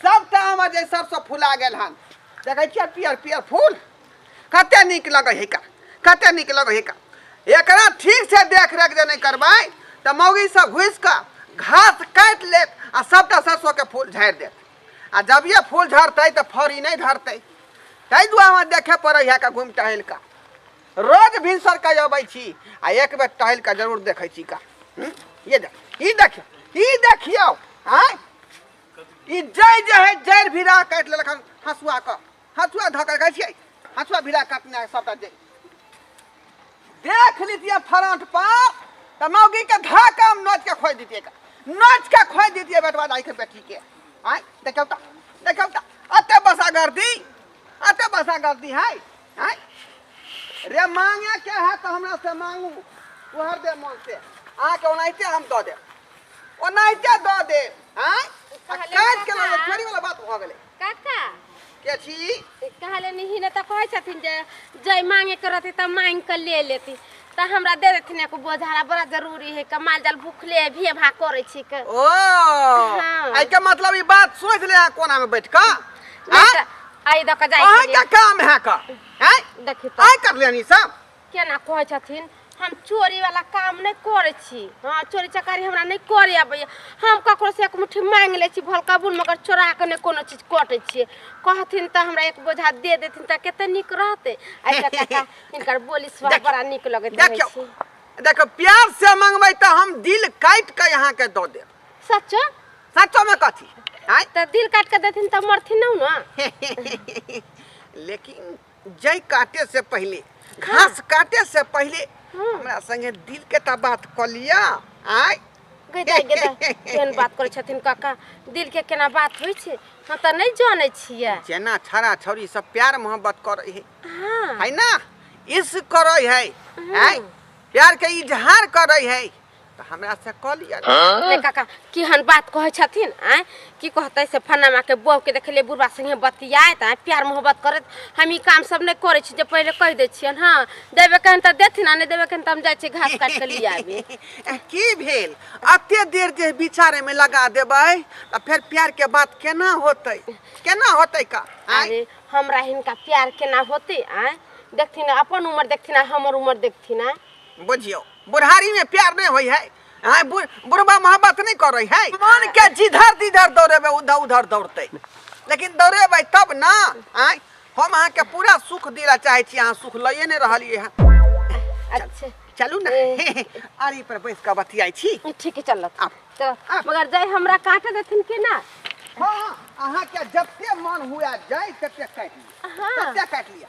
सभटा आम जे सभसँ फुला गेल हन देखै छियै पियर पियर फूल कतेक नीक लगै है का कतेक नीक लगै है का एकरा ठीक से देख रेख जे नहि करबै तऽ मौगी सब घुसि कऽ घास काटि लेत आ सभटा सरसोके फूल झाड़ि देत आ जब ये फूल झड़तै तऽ फड़ी नहि धरतै ताहि दुआरे हमरा देखे पड़ै है का घुमि टहलि कऽ रोज भिनसर कऽ अबै छी आ एक बेर टहलि कऽ जरूर देखै छी का हूँ? ये देख ई देखियौ ई देखियौ आँय ई जय जे है जड़ भिड़ा काटि लेलक हन हसुआ के हसुआ धऽ कऽ कहै छियै हसुआ भिड़ा काटने है सबटा जड़ देख लीतिए फराट पर तऽ मौगी के धऽ कऽ हम नोच के खोइ दितिए नोच के खोइ दितिए बेटवा दाई के बेटी के आय देखौ तऽ देखौ तऽ अते बसा गर्दी अते बसा गर्दी है आय रे मांगे के है तऽ हमरा से मांगू उहर दे मन से अहाँके ओनाहिते हम दऽ देब ओनाहिते दऽ दे आँय आ कहले काटि के लऽ ले काका। फेरी वाला बात भऽ गेलै काका के छी कहले नहीं ना तो कहे छथिन जे जय मांगे के रहती तब मांग के ले लेती तो हमरा दे देथिन एगो बोझारा बड़ा जरूरी है के माल जाल भूखले है भे भा करे छी के ओ हाँ। आई के मतलब ई बात सोच ले आ कोना में बैठ के नहीं तो आई दो के जाए अहाँ के काम है का हैं देखी तो आई कर लेनी सब केना कहै छथिन हम चोरी वाला काम नहीं करे छी हाँ चोरी चकारी हमरा नहीं करे अबैया हम ककरो से एक मुट्ठी मांग ले छी भल कबूल मगर चोरा के नहीं कोनो चीज कटे छी कहथिन त हमरा एक बोझा दे देथिन त केते निक रहते ऐसा काका इनकर बोली सुभाव देखियो, बड़ा निक लगैत रहै देखियो छी देखियो प्यार से मंगबै तऽ हम दिल काटि कऽ अहाँके दऽ देब सच्चो सचोमे कथी आँय त दिल काट के देथिन त मरथिन न न लेकिन जय काटे से पहले घास काटे से पहले हमरा संगे दिल के ता बात क लिया आय गदा गदा केहन बात करै छथिन काका दिल के केना बात होइ छै हम तऽ नहि जानै छियै जेना छड़ा छौरी सब प्यार मोहब्बत करे है हाँ है ना इश्क करे है आय प्यार के इजहार करे है तऽ हमरा से कऽ लिअ ने। रे काका केहन बात कहै छथिन आँय की कहतै से फन्नामा के बहू के देखलियै बुढ़बा संगे बतियाइत आँय प्यार मोहब्बत करैत हम ई काम सब नहि करै छी जे पहिले कहि दै छियनि हँ देबे कहन तऽ देथिन आ नहि देबे कहन तऽ हम जाइ छी घास काटि कऽ लि आबी ए, की भेल अते देर जे विचारे में लगा देबै तऽ फेर प्यार के बात केना होतै केना होतै का आँय? अरे हमरा हिनका प्यार केना होतै आँय देखथिन अपन उम्र देखथिन आ हमर उम्र देखथिन आँय बुझियौ बुढ़ारी में प्यार नहीं होई है हाँ, बुढ़बा मोहब्बत नहीं कर रही है मन के जिधर जिधर दौड़ेबे उधर उधर दौड़ते लेकिन दौड़ेबे तब ना आय हम अहाँ के पूरा सुख दिला चाहे छी अहाँ सुख लइए नहीं रहलिए हैं अच्छा चलू ना आरी पर बैस के बतियाई छी ठीक है चल तो मगर जाय हमरा काटे देथिन कि ना हाँ, हाँ अहाँ के जब मन हुआ जाय तब काट लिया हाँ। तब काट लिया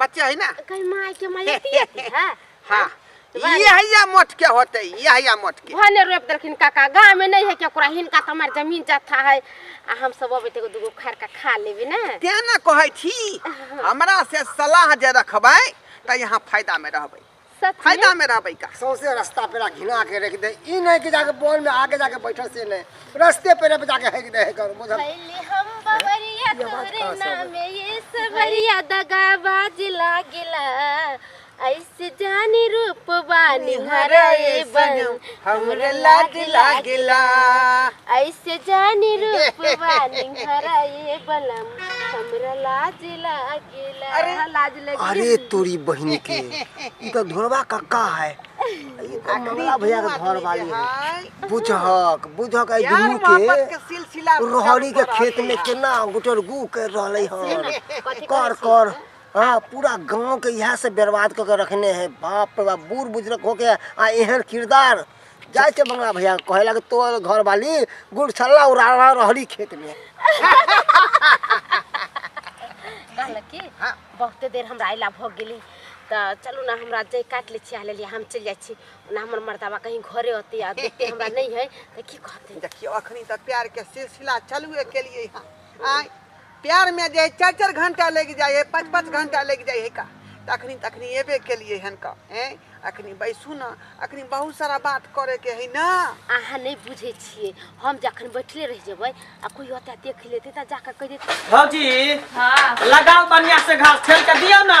बच्चा है ना कहीं माय के माय अथी अथी है हाँ ये है या मोट के होते ये है या मोट के भने रोप देलखिन काका गाँव में नहीं है के ओकरा हिनका तो हमार जमीन जाता है आ हम सब अबे तेगो दुगो खैर का खा लेबे ना तें ना कहै छी हमरा से सलाह जे रखबै त यहाँ फायदा में रहबै सच में फायदा में रहबै का सौंसे रास्ता पेरा घिना के रख दे ई नहीं कि जाके बॉल में आगे जाके बैठल से नहीं रास्ते पेरे पे जाके हेक दे हेक कर बुझल भइली हम बवरिया तोरे नामे ये सबरिया दगाबाज लागिला ऐसे जानी रूप बानी हराए बन हमरा लाज लागिला ऐसे जानी रूप बानी हराए बलम हमरा लाज लाग अरे लाज लगी अरे तोरी बहनी के ई तो धोरवा कक्का है ई तो मंगला भैया के घर वाली है बुझहक बुझहक आई दुनू के सिलसिला रोहड़ी के खेत में केना गुटर गु कर रहले हन कर कर हाँ पूरा गांव के यहाँ से बर्बाद करके रखने हैं बाप रे बाप बूढ़ बुजुर्ग होके आ एहन किरदार जाए के मंगला भैया के कहे लगे तोर घर वाली गुड़ छल्ला उड़ा रहा रहली खेत में कहल कि हाँ। बहुते देर हमरा अयला भऽ गेली तऽ चलू ने हमरा जे काटि लै छी आ लेलियै हम चलि जाइ छी ओना हमर मर्दाबा कहीं घरे होतै आ देखते हमरा नहि है तऽ की कहतै देखियो अखनी तक प्यार के सिलसिला चलुए के लिए आय प्यार में जे चार चार घंटा लग जाए है पाँच पाँच घंटा लग जाए है का तखनी तखनी एबे के लिए हन का हैं अखनी बैसू ना अखनी बहुत सारा बात करे के है ना अहाँ नहीं बुझे छिए हम जखन बैठले रह जेबै आ कोई होता देख लेते त जाकर कह देते भौजी हाँ लगाओ बढ़िया से घास ठेल के दियो ना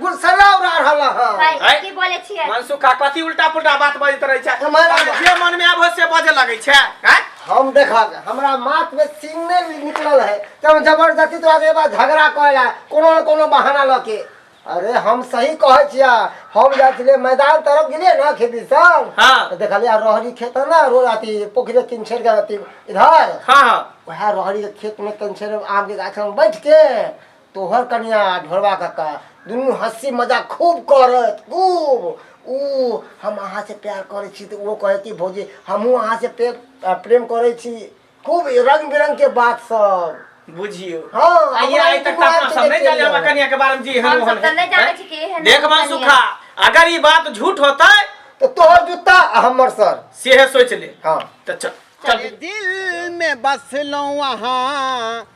गुलसरा उड़ा रहल हँ भाई है? की बोले छियै मनसुखा कथी उल्टा पुल्टा बात बजैत रहै छै हमारा- अरे जे मन में आबो से बजे लगै छै हैं? हम देखब हमरा माथ में सीन नहीं निकलल है कि हम जबरदस्ती तोरा से बा झगड़ा करे ला कोनो न कोनो बहाना ल के अरे हम सही कहै छियै हम जाइ छलियै मैदान तरफ गेलियै ना खेती सब हाँ। तऽ देखलियै रहरी खेत है ना रोड अथी पोखरे किनछेर के अथी इधर हाँ हाँ वएह रहरी के खेत में किनछेर आम के गाछ में बैठ के तोहर कनिया आ ढोलवा काका दुनू हंसी मजाक खूब करत खूब ओ हम अहाँ से प्यार करै छी तऽ ओ कहै कि भौजी हमहूँ अहाँ से प्रेम आ, प्रेम करै छी खूब रंग बिरंग के बात सब बुझियो हाँ, आइए हमरा आइ ई तक दुआर अपना के सब नहीं देखे जाने लिअ। हमरा कनिया के बारे में जी हम हम सब तऽ नहि जानै छी कि एहन देख कनिया। सुखा अगर ई बात झूठ होता तो तोहर जूता आ हमर सर से है सोच ले हाँ तो चल चल दिल में बसलो वहाँ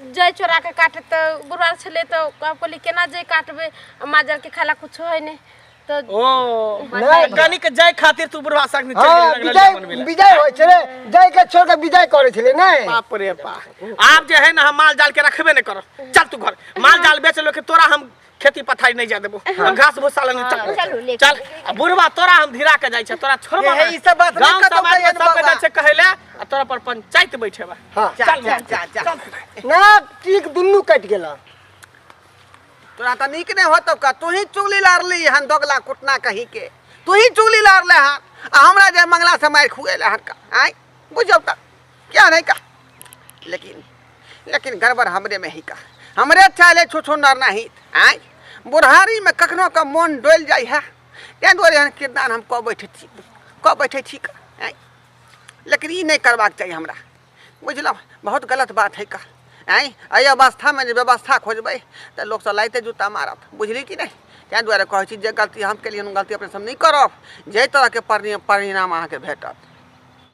जय चोरा के काटे तो गुरुवार छले तो आप कहली केना जय काटबे आ माजर के खाला कुछ है नहीं तो ओ नहीं। कनी के जाय खातिर तू बुढ़वा साग में हाँ चल विजय गेल विजय होइ छलै जय के छोड़ के विजय करै छलै नहि बाप रे बाप आप जे है ना हम माल जाल के रखबे नहीं करो चल तू घर माल जाल बेच लो के तोरा हम खेती पथारी नहीं जा देबो हम घास भूसा लंग चल हाँ, चलू, लेके चल आ बुढ़वा तोरा हम धिरा के जाय छै तोरा छोड़बा ये, ई सब बात नहीं गांव कतौ समाज में कहियन सब बेटा बाबा। छै कहैले आ तोरा पर पंचायत बैठेबा हाँ। चल चल, बा। चल, चल, चल। ना टीक दुनू कटि गेल तोरा तऽ नीक नहि होतौ का तू ही चुगली लारली हन दोगला कुटना कही के तू ही चुगली लारले हन आ हमरा जे मंगला से मारि खुएले हन का आय बुझौ तऽ क्या नहीं का लेकिन लेकिन गड़बड़ हमरे में ही का हमरे चाले छो छो नर नहीं आय बुढ़ारी में कखनो का मन डोल जाय है तें दुआरे एहन किरदान हम कऽ बैठे छी कऽ बैठे छी का आय लेकिन ई नहीं करबाक चाहिए हमरा बुझलहुँ बहुत गलत बात है का आँय एहि अवस्थामे जे व्यवस्था खोजबै तऽ लोक सब लाइते जूता मारत बुझली कि नहि ताहि दुआरे कहै छी जे गलती हम केलियै हम गलती अपने सब नहि करब जाहि तरहके परिणाम अहाँके भेटत